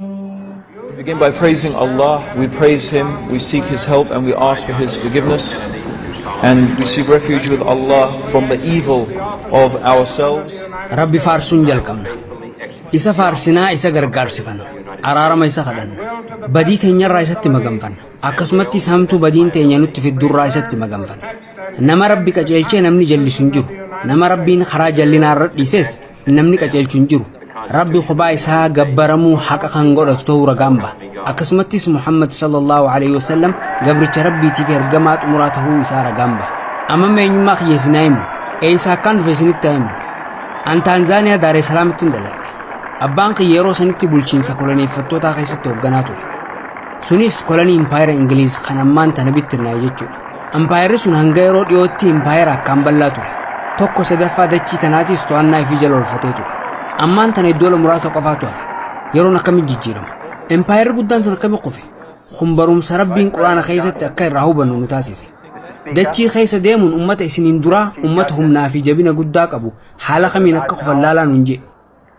We begin by praising Allah, we praise Him, we seek His help and we ask for His forgiveness. And we seek refuge with Allah from the evil of ourselves. Rabbi faarsuun jalqabna. Isa faarsinaa isa gargaarsifanna. Araarama isa kadhanna. Badii teenyarraa isatti maganfanna. Akkasumattis hamtuu badiin teenya nutti fiddurraa isatti maganfanna. Nama Rabbi qajeelchee namni jallisu hin jiru. Nama Rabbiin karaa jallinaa irra dhiises Namni qajeelchu hin jiru. Rabbi kophaa isaa gabbaramuu haqa kan godhatu ta'uu ragaan ba'a. Akkasumattis Muhammad sallallahu alaihi wasallam gabricha Rabbiitiif ergamaa xumuraa ta'uu isaa ragaan ba'a. Amma eenyummaa kiyya isinaa himu. Eessa akkaan dhufe isinitti himu. An Taanzaaniyaa Daaree Salaamitti hin dhaladhe. Abbaan kiyya yeroo sanitti bulchiinsa koloneeffattootaa keessatti hoogganaa ture. Sunis kolonii impaayera Ingiliiz kan ammaan tana bittinnaa'e jechuudha. Ampaayerri sun hanga yeroo dhiyootti impaayera akkaan bal'aa ture. Tokko sadaffaa dachii tanaatis to'annaa ifii jala oolfatee ture. Ammaan tana iddoola muraasa qofaatu hafe. Yeroon akkamitti jijjiirama? Impaayerri guddaan sun akkamitti kufe? Kun barumsa Rabbiin Qur'aana keessatti akka irraa hubannu nu taasise. Dachii keessa deemuun ummata isiniin duraa ummata humnaa fi jabina guddaa qabu haala kamiin akka kufan laalaa nuun jedhe.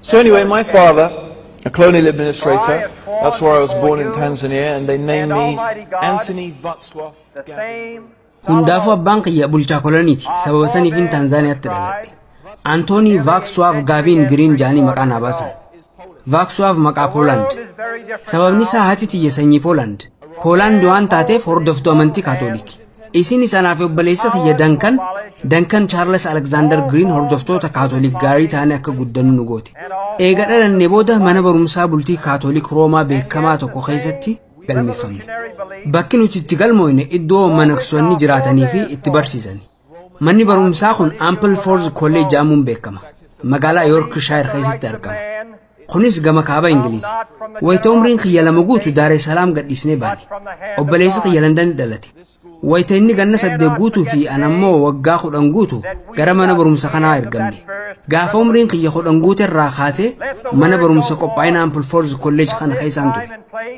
So anyway, my father, a colonial administrator, that's where I was born in Tanzania, and they named me Anthony Vatswaf Gavin. Hundaafuu abbaan kiyya bulchaa koloniiti. Sababa saniifin Tanzaaniyaatti dhaladhe. Antoonii Vaakswaaf Gaaviin Giriin jaanii maqaa naa baasan. Vaakswaaf maqaa Poolaand. Sababni isaa haati tiyya sanyii Poolaand. Poolaand waan taateef hordoftuu amantii Kaatooliki. Isinis anaa fi obboleessa kiyya Dankan, Dankan Chaarles Aleksaandar Giriin hordoftoota Kaatoolik gaarii taanee akka guddannu nu goote. Eega dhalannee booda mana barumsaa bultii Kaatoolik Roomaa beekamaa tokko keessatti galmeeffamne. Bakki nuti itti galmooyne iddoo manaksoonni jiraatanii fi itti barsiisani. Manni barumsaa kun Ample Forth College jedhamuun beekama. Magaalaa Yorkshire keessatti argama. Kunis gama kaaba Ingiliizi. Wayita umriin kiyya lama guutu Daaree Salaam gadhiisnee baane. Obboleessi kiyya Landanitti dhalate. Wayita inni ganna saddeet guutuu fi an ammoo waggaa kudhan guutu gara mana barumsa kanaa ergamne. Gaafa umriin kiyya kudhan guute irraa kaasee mana barumsa qophaa'ina Ampleforth College kana keessaan ture.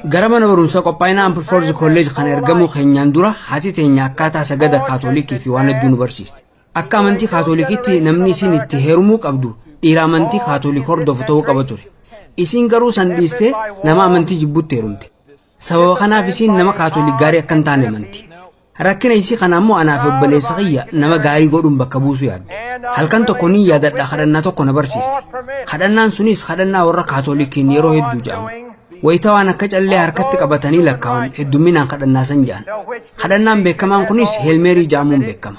Gara mana barumsa qophaa'ina Ampleforth College kana ergamuu keenyaan dura haati teenya akkaataa sagada Kaatolikii fi waan hedduu nu barsiiste. Akka amantii kaatolikiitti namni isiin itti heerumuu qabdu dhiira amantii kaatolik hordofu ta'uu qaba ture. Isiin garuu san dhiistee nama amantii jibbutti heerumte. Sababa kanaaf isiin nama kaatolik gaarii akka hin taane amanti. Rakkina isii kana ammoo anaa fi obboleessa kiyya nama gaarii godhuun bakka buusuu yaadde. Halkan tokko niin yaadadha kadhannaa tokko na barsiiste. Kadhannaan sunis kadhannaa warra kaatolikiin yeroo hedduu jedhamu. Wayita waan akka callee harkatti qabatanii lakkaa'an heddumminaan kadhannaa san jedhan. Kadhannaan beekamaan kunis heelmeerii jedhamuun beekama.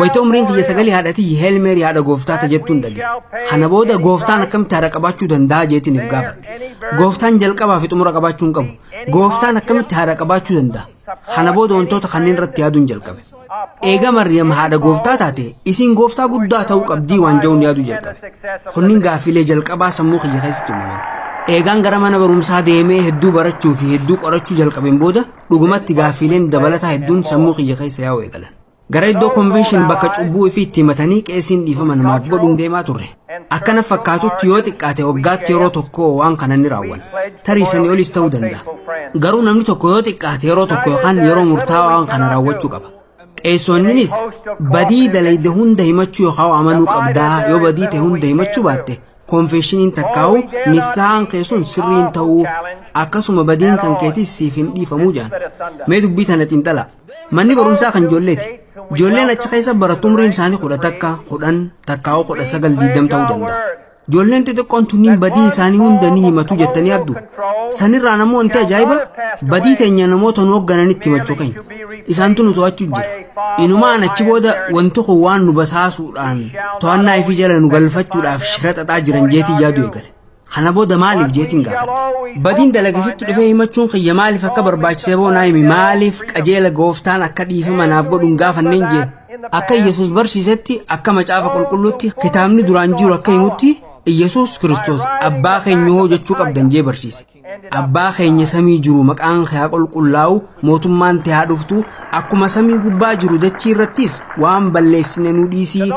Wayita umriin tiyya sagali haadha tiyyi Heel Meerii haadha gooftaa ta jettuun dhage. Kana booda gooftaan akkamitti haadha qabaachuu danda'a jeetiin if gaafadhe. Gooftaan jalqabaa fi xumura qabaachuu hin qabu. Gooftaan akkamitti haadha qabaachuu danda'a? Kana booda wantoota kanneen irratti yaaduun jalqabe. Eega Mariyam haadha gooftaa taate isiin gooftaa guddaa ta'uu qabdii waan ja'uun yaaduu jalqabe. Kunniin gaaffiilee jalqabaa sammuu kiyya keessatti uumaman. Eegaan gara mana barumsaa deemee hedduu barachuu fi hedduu qorachuu jalqabeen booda dhugumatti gaaffiileen dabalataa hedduun sammuu kiyya keessa yaa'u eegalan. Gara iddoo konvenshin bakka cubbuu ifii itti himatanii qeesiin dhiifama namaaf godhuun deemaa turre. Akka na fakkaatutti yoo xiqqaate waggaatti yeroo tokko waan kana ni raawwanna. Tarii sanii olis ta'uu danda'a. Garuu namni tokko yoo xiqqaate yeroo tokko yookaan yeroo murtaawaa waan kana raawwachuu qaba. Qeesonninis badii dalayde hunda himachuu yookaan amanuu qabdaa yoo badii ta'e hunda himachuu baatte konfeshiniin takkaa'u nisaan kee sun sirriin ta'uu akkasuma badiin kan keetis siif hin dhiifamuu jedhan. Mee dubbii tana xiinxalaa. Manni barumsaa kan ijoolleeti. Ijoolleen achi keessa barattu umriin isaanii kudha takka, kudhan, takkaa'uu kudha sagal diigdam ta'uu danda'a. Ijoolleen xixiqqoon tunniin badii isaanii hunda ni himatu jettanii yaaddu. Sanirraan ammoo wanti ajaa'iba badii teenya namoota nu hooggananitti himachuu keenya. Isaantu nu to'achuu jira. Inumaan achi booda wanti kun waan nu basaasuudhaan to'annaa ifii jala nu galfachuudhaaf shira xaxaa jiran jeetii yaaduu eegale. Kana booda maaliif jeetiin gaafadhe. Badiin dalageessatti dhufee himachuun kiyya maaliif akka barbaachisee boo naa himi maaliif qajeela gooftaan akka dhiifama naaf godhuun gaafanneen jee. Akka Iyyasuus barsiisetti akka macaafa qulqulluutti kitaabni duraan jiru akka himutti Iyyasuus Kiristoos abbaa keenya hoo jechuu qabdan jee barsiise. Abbaa keenya samii jiru maqaan kee haa qulqullaa'u mootummaan tee haa dhuftu akkuma samii gubbaa jiru dachii irrattis waan balleessine nu dhiisii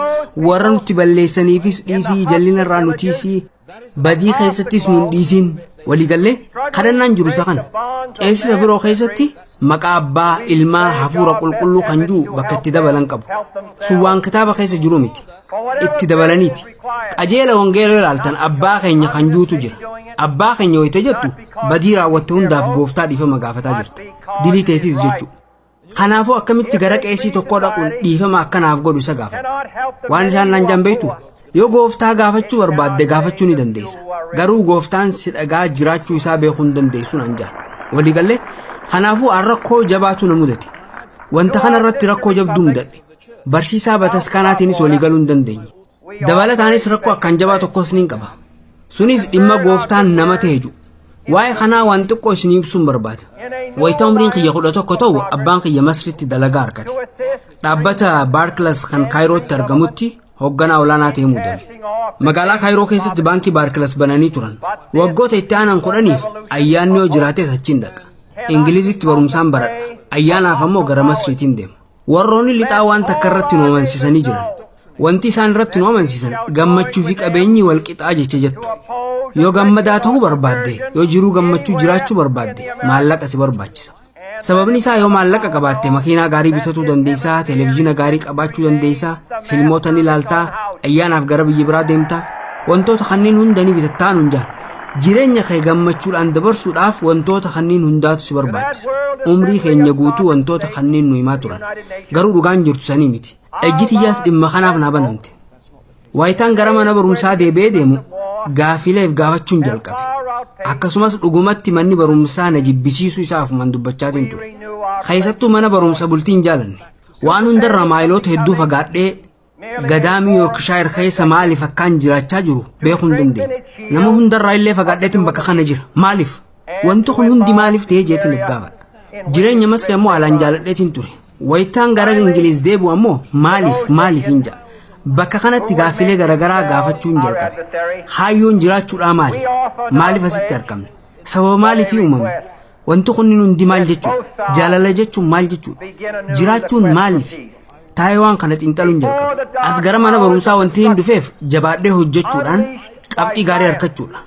warra nutti balleessaniifis dhiisii jallina irraa nu tiisii badii keessattis nu hin dhiisiin waliigallee kadhannaan jiru isa kana ceesisa biroo keessatti maqaa abbaa ilmaa hafuura qulqulluu kan jiru bakka itti dabalan qabu sun waan kitaaba keessa jiru miti itti dabalaniiti qajeela wangeela ilaaltan abbaa keenya kan jirutu jira abbaa keenya wayita jettu badii raawwatte hundaaf gooftaa dhiifama gaafataa jirta dilii teetis jechuu kanaafuu akkamitti gara qeesii tokkoo dhaquun dhiifama akkanaaf godhu isa gaafata waan isaan naan jaan beektu Yoo gooftaa gaafachuu barbaadde gaafachuu ni dandeessa. Garuu gooftaan si dhagaa jiraachuu isaa beekuu hin dandeessu naan jedhan. Walii galle kanaafuu aan rakkoo jabaatu na mudate. Wanta kana irratti rakkoo jabduu mudadhe. Barsiisaa bataskaanaatiinis walii galuu hin dandeenye. Dabalataanis rakkoo akkaan jabaa tokkos niin qaba. Sunis dhimma gooftaan nama ta'e jedhu. Waa'ee kanaa waan xiqqoo isin ibsuun barbaada. Wayita umriin kiyya kudha tokko ta'u abbaan kiyya Masritti dalagaa argate. Dhaabbata Baarkilas kan Kaayirootti argamutti hoogganaa olaanaa ta'ee muudame. Magaalaa Kaayiroo keessatti baankii Baarkilas bananii turan. Waggoota itti aanan kudhaniif ayyaanni yoo jiraates achiin dhaqa. Ingilizitti barumsaan baradha. Ayyaanaaf ammoo gara Masriitiin deema. Warroonni lixaa waan takka irratti nu amansiisanii jiran. Wanti isaan irratti nu amansiisan gammachuu fi qabeenyi wal qixaa jecha jettu. Yoo gammadaa ta'uu barbaadde, yoo jiruu gammachuu jiraachuu barbaadde, maallaqa si barbaachisa. Sababni isaa yoo maallaqa qabaatte makiinaa gaarii bitatuu dandeessaa, televezyiina gaarii qabaachuu dandeessaa, filmoota ni ilaaltaa, ayyaanaaf gara biyya biraa deemtaa. Wantoota kanneen hunda ni bitattaa nuun jaan. Jireenya kee gammachuudhaan dabarsuudhaaf wantoota kanneen hundaatu si barbaachisa. Umrii keenya guutuu wantoota kanneen nu himaa turan. Garuu dhugaan jirtu sanii miti. Ejji tiyyaas dhimma kanaaf naa banamte. Waayitaan gara mana barumsaa deebi'ee deemu gaafiilee of gaafachuun jalqabe. Akkasumas dhugumatti manni barumsaa na jibbisiisuu isaa ofumaan dubbachaatiin ture. Keessattuu mana barumsa bultiin jaalanne. Waan hundarra maayiloota hedduu fagaadhee gadaamii Yoorkishaayir keessa maaliif akkaan jiraachaa jiru beekuu hin dandeenye. Nama hundarraa illee fagaadheetiin bakka kana jira. Maaliif? Wanti kun hundi maaliif ta'ee jeetiin of gaafadha. Jireenya masee ammoo alaan jaaladheetiin ture. Wayitaan gara Ingiliiz deebi'u ammoo maaliif maaliifin ja'a. Bakka kanatti gaaffilee garagaraa gaafachuun jalqabe. Kaayyoon jiraachuudhaa maali? Maaliif asitti argamne? Sababa maaliifii uumamne? Wanti kunniin hundi maal jechuudha? Jaalala jechuun maal jechuudha? Jiraachuun maaliif? Taa'ee waan kana xiinxaluun jalqabe. As gara mana barumsaa wanti hin dhufeef jabaadhee hojjechuudhaan qabxii gaarii argachuudha.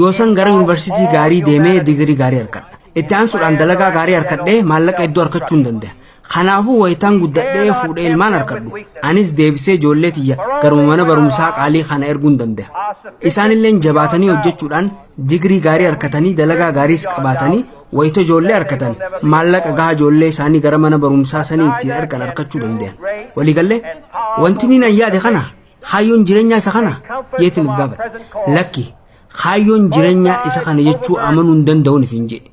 Yoosan gara yuunivarsiitii gaarii deemee digirii gaarii argadha. Itti aansuudhaan dalagaa gaarii harkadhee maallaqa hedduu harkachuun danda'a. Kanaafuu wayitaan guddadhee fuudhee ilmaan harkadhu. Anis deebisee ijoollee tiyya garuma mana barumsaa qaalii kana erguun danda'a. Isaanilleen jabaatanii hojjechuudhaan digirii gaarii harkatanii dalagaa gaariis qabaatanii wayita ijoollee harkatan maallaqa gahaa ijoollee isaanii gara mana barumsaa sanii ittiin ergan harkachuu danda'an. Waliigallee wanti niin an yaade kana kaayyoon jireenyaa isa kana jeetiin of gaafate. Lakki Kaayyoon jirenyaa isa kana jechuu amanuu hin danda'uun ifin jedhe.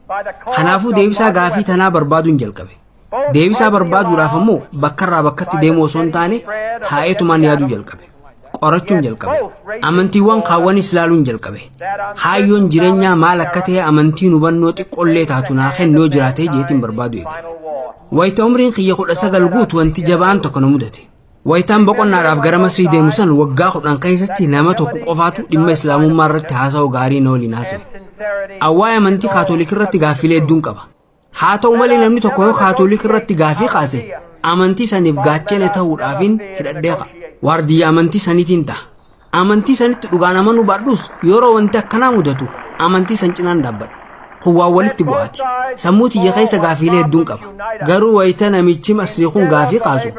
Kanaafuu deebisaa gaafii tanaa barbaaduun jalqabe. Deebisaa barbaaduudhaaf ammoo bakkarraa bakkatti deemuu osoo hin taane taa'eetumaan yaaduu jalqabe. Qorachuun jalqabe. Amantiiwwan kaawwanis laaluun jalqabe. Kaayyoon jirenyaa maal akka ta'e amantiin hubannoo xiqqollee taatu naa kennu yoo jiraate jeetiin barbaadu eegale. Wayita umriin kiyya kudha sagal guutu wanti jabaan tokko na mudate. Wayitaan boqonnaadhaaf gara Masrii deemu san waggaa kudhan keessatti nama tokko qofaatu dhimma Islaamummaa irratti haasawaa gaarii na waliin haasawe. Awwaa'ee amantii Kaatoolik irratti gaaffilee hedduun qaba. Haa ta'u malee namni tokko yoo Kaatoolik irratti gaaffii kaase amantii saniif gaachena ta'uudhaafin hidhadhee ka'a. Waardiyyaa amantii saniitiin ta'a. Amantii sanitti dhugaan amanuu baadhus yeroo wanti akkanaa mudatu amantii san cinaan dhaabbadha. Kun waan walitti bu'aati. Sammuu tiyya keessa gaafiilee hedduun qaba. Garuu wayita namichi Masrii kun gaafii kaasu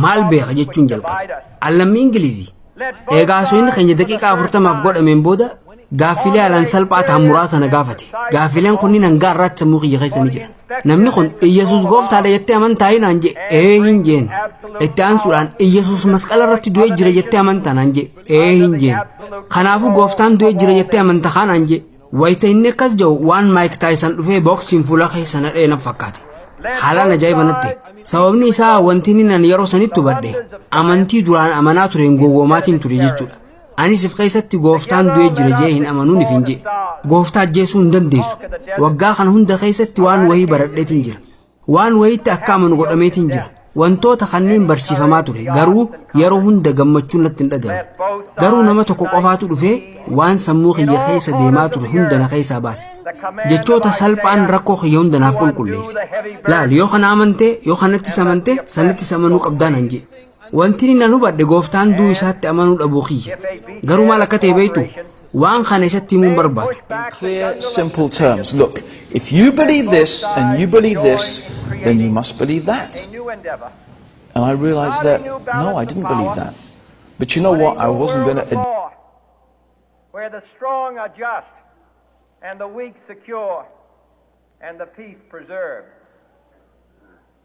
maal beeka jechuun jalqaba. An lammii Ingilizii. Eegaa haasofni keenya daqiiqaa afurtamaaf godhameen booda gaaffiilee haalaan salphaa ta'an muraasa na gaafate. Gaaffiileen kunniin hangaa irraatti sammuu kiyya keessa ni jiran. Namni kun Iyyasuus gooftaadha jettee amantaa naan jee ee hin jeen. Itti aansuudhaan Iyyasuus masqala irratti du'ee jira jettee amantaa naan jee ee hin jeen. Kanaafuu gooftaan du'ee jira jettee amanta kaa naan jee. Wayita inni akkas jedhu waan Maayik Taayisan dhufee booksiin fuula keessa nadhee na fakkaate. Haalaan ajaa'iba natti. Sababni isaa wanti inni nan yeroo sanitti hubadhe amantii duraan amanaa tureen gowwoomaatiin ture jechuudha. Ani sif keessatti gooftaan du'ee jira jee hin amanuu nif hin jee. Gooftaa ajjeesuu hin dandeessu. Waggaa kana hunda keessatti waan wayii baradheetiin jira. Waan wayiitti akka amanu godhameetiin jira. Wantoota kanneen barsiifamaa ture garuu yeroo hunda gammachuun natti hin dhagame. Garuu nama tokko qofaatu dhufee waan sammuu kiyya keessa deemaa ture hunda na keessaa baase. Jechoota salphaan rakkoo kiyya hunda naaf qulqulleesse. Laal yoo kana amantee yoo kanattis amantee sanattis amanuu qabdaa nan jee. Wanti inni nan hubadhe gooftaan du'u isaatti amanuu dhabuu kiyya. Garuu maal akka ta'e beektu waan kana isatti himuun barbaada. In clear, simple terms, look, if you believe this and you believe this, then you must believe that. And I realized that, no, I didn't believe that. But you know what? I wasn't going to. Where the strong are just and the weak secure and the peace preserved.